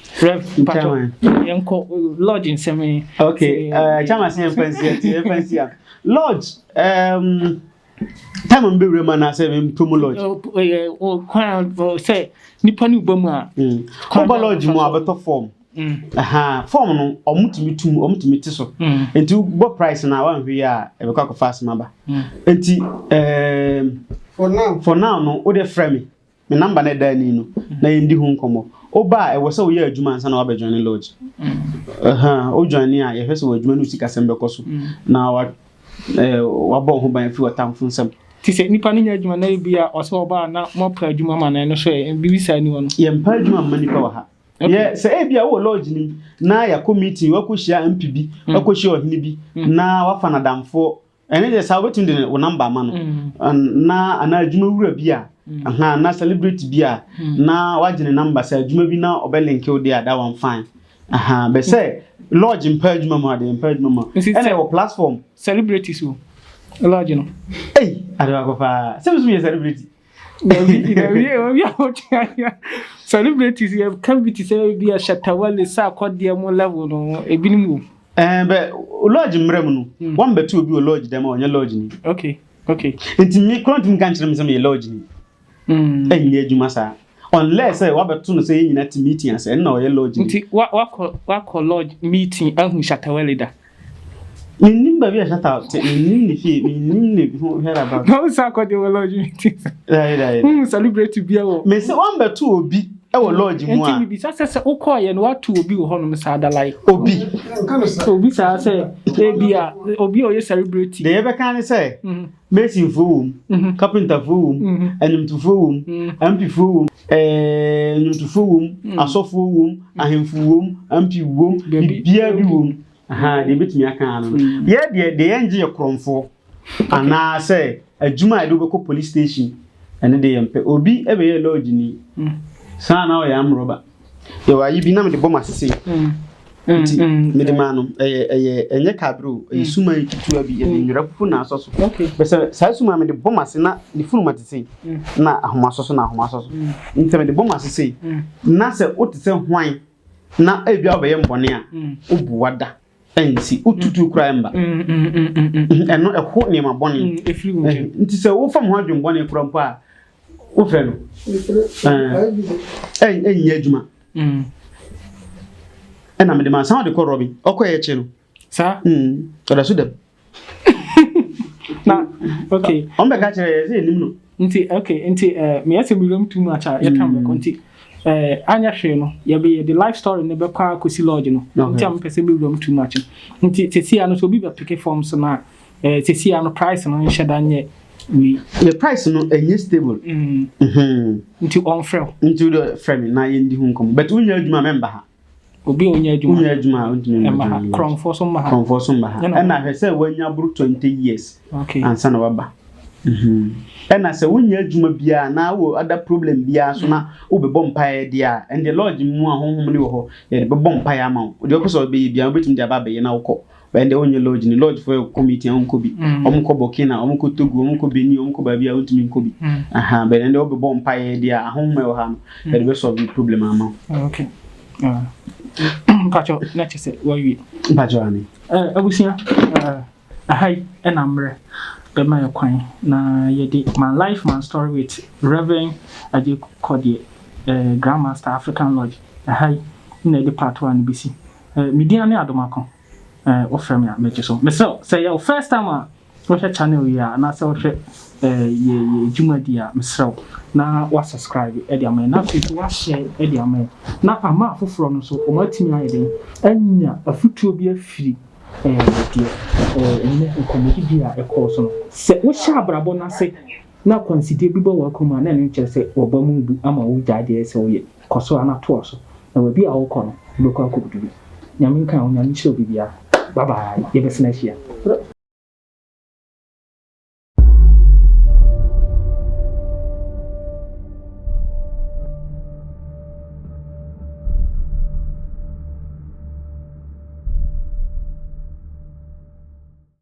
Rev. Chairman. Yɛnkɔ lodge nsɛm yi. Okay, uh, chairman sɛ yɛmfa nsi ɛti yɛmfa nsi a. Lodge, um, time mi bɛwura mu anaasɛ mempɛ mu lodge? Ɛyɛ kwan sɛ nipa ne ba mu a. Hmm. Woba lodge mu a bɛtɔ fɔm. Hmm. Fɔm no, ɔmo tumi tum, ɔmo tumi ti so. Hmm. Nti bɔ price na wanhwɛ yi a ɛbɛkɔ akɔfa asɛm aba. Nti, um, for now, for now no, wode frɛ me. me number na ɛda ani no na yɛn di ho nkɔmɔ ɔba a ɛwɔ sɛ woyɛ adwuma ansa na wabɛdwan ne lodge ɔdwan ne a yɛhwɛ sɛ wɔ adwuma no sikasɛm bɛkɔ so na wa eh, wabɔ ho ban fi ɔtamfo nsam te sɛ nipa no nya adwuma na ebi a ɔsɛ ɔba a na moapa adwuma ma no ɛno so ɛ biribi saa ni hɔ no yɛmpa adwuma mma nipa wɔ ha yɛ sɛ ebi a wowɔ lodge no na yɛakɔ meeting wakɔhyia mp bi wakɔhyia ɔhene bi na wafa nadamfoɔ Ɛne deɛ saa wobɛtumi de wo namba ama no mm. na anaa adwuma wura bi a mm. aha na celebrate bi a mm. na wagye ne namba sɛ adwuma bi na ɔbɛ link wo deɛ a that one fine aha bɛ sɛ lodge mpa adwuma mu adeɛ mpa adwuma mu ɛna ɛwɔ platform celebrities o lodge no ei adewa kɔ paa sɛ mesum yɛ celebrity Dabi bi na wie obi a ɔtwe ayɛ. Celebrities yɛ ka bi te sɛ ebi a Shatawale sɛ akɔdeɛ mo level no ebinom wɔ mu. Ɛɛ bɛ lodge mmerɛ mu no hmm. wɔn bɛtu obi wɔ lodge dɛm a ɔnyɛ lodge ni. Okay okay. Nti mi kura ntumi ka nkyerɛ mi sɛ mi yɛ lodge ni. Hmm. Ɛnyɛ adwuma saa unless sɛ wabɛto no sɛ yɛn nyinaa ti meeting ase ɛnna ɔyɛ lodge ni. Nti wakɔ wakɔ lodge meeting ahu Shatawale da. Mennim baabi a Shatta te, mennim ne fie, mennim ne ho whereabout. Na wo sa akɔgye wɔ lodge mi ti. Dae dae. Wohu celebrate bia wɔ. Me se wɔn bɛto obi wɔ lodge mu a. Nti mibisa sɛ sɛ wokɔɔ yɛ no wato obi wɔ hɔnom saa da like. Obi. Obi saa sɛ ebi a obi a ɔyɛ celebrate. Deɛ yɛbɛka ne sɛ. Masonfoɔ wɔ mu, kapentafoɔ wɔ mu, anwomtofoɔ wɔ mu, ampifoɔ wɔ mu, ɛɛ nnwomtofoɔ wɔ mu, asɔfoɔ wɔ mu, ahemfo wɔ mu, ampi wɔ mu, biribiara bi wɔ mu. Ahaa, deɛ ebetumi aka ara no. Yɛ deɛ deɛ yɛn gye yɛ korɔnfoɔ anaasɛ adwuma a yɛde wobɛkɔ police station ɛne deɛ yɛn pɛ. Obi ɛbɛyɛ lodge ni, saa na ɔyɛ amrɔba. Yɛwɔ ayi bi na mede bɔ m'asese nti mede maa no ɛyɛ ɛyɛ ɛnyɛ kaabere o ɛyɛ suma yi ketewa bi yɛde nwera fufu na asɔ so bɛsɛ saa suma mede bɔ m'ase na ne funuma te sei na ahoma asɔ so na ahoma asɔ so nti mede bɔ m'ase sei na sɛ wote sɛ hwan na ebi a wobɛyɛ mbɔne a wobu wada nti wotutu koraa mba mm, mm, mm, ɛno ɛho nneɛma bɔne nti sɛ wofa mo ho adwen bɔne kora mpo a wofrɛ no ɛnyɛ adwuma ɛna mede ma san wode kɔ rɔbi ɔkɔyɛ kye no saa ɔda so dɛm na okay ɔn bɛ ka kyerɛ yɛ sɛ nim no nti okay nti ɛɛ eh, meyɛ sɛ mewuram too much a yɛka mbɛkɔ mm. nti ɛɛ eh, anyɛ hwee no yɛbɛ yɛ de life story no bɛkɔ akɔsi lodge no nti a mepɛ sɛ mewuram too much nti sesia no sɛ obi bɛpeke forms no a ɛɛ eh, sesia no price no nhyɛ da nyɛ wei yɛ price no ɛnyɛ stable mm. mhm. nti ɔnfrɛ wo nti wode frɛ me na yɛndi ho nkɔmmɔ but wonyɛ adwuma mɛmba ha Obi a ɔnya adwuma. Ɔnya adwuma a ɔntumi mma ha. Korɔmfoɔ nso mma ha. Korɔmfoɔ nso mma ha. Ɛna hwɛ sɛ wanya boro twenty years. Okay. Ansa na waba. Mhm. Ɛna sɛ wonya adwuma biara na wɔ ada problem biara so na wobɛbɔ mpaeɛ deɛ a, ɛnde lodge mu a honhom ne wɔ hɔ yɛde bɛbɔ mpaeɛ ama wo. Deɛ wopɛ sɛ wobɛyɛ biara wobɛtumi de aba abɛyɛ na wokɔ. Bɛn deɛ wonyɛ lodge ni lodge fo ɛkɔ meeting a wonkɔ bi wɔn kɔ Burkina wɔn kɔ Togo wɔn kɔ Benin wɔn kɔ baabi a wontumi nkɔ bi aha bɛn deɛ wobɛbɔ mpa yɛ deɛ ahohom ɛwɔ ha no ɛde bɛ solve problem ama wo. Okay. Mpatsɔ na kyɛ sɛ wawie. Mpatsɔ ani. Ɛɛ abusua ɛɛ aha yi ɛna mmerɛ bɛma yɛ kwan na yɛde my life my story with Reverend Agye Kɔdeɛ ɛɛ Grandmaster African Lodge aha yi na yɛde part one bɛsi Eh, me din ane Adomako. Eh, wofrɛ me a, megye so. Mesrɛ wo, sɛ ɛyɛ wo first time a wohwɛ channel yi a, anaasɛ wohwɛ eh, yɛ yɛ dwumadi a, mesrɛ wo, na woasubscribe de ama yɛn, na afei nso woahyɛ de ama yɛn, na ama afoforɔ no nso, wɔatumi ayɛ dɛn anya afotuo bi afiri eh, deɛ eh, ɛnɛ nkɔmmɔdi bi a ɛkɔɔ so no. Sɛ wohyɛ abrabɔ no ase na akwansideɛ bi bɔ w'akoma a, na ɛno nkyerɛ sɛ wɔba mu bu ama wogyae deɛ ɛsɛ sɛ woyɛ. Kɔ so ara na toa so. Na baabi a wokɔ no wobɛkɔ akɔdu bi. Nyame nka wo, Nyame nhyira obibiara. Bye bye, yɛbɛsan ahyia.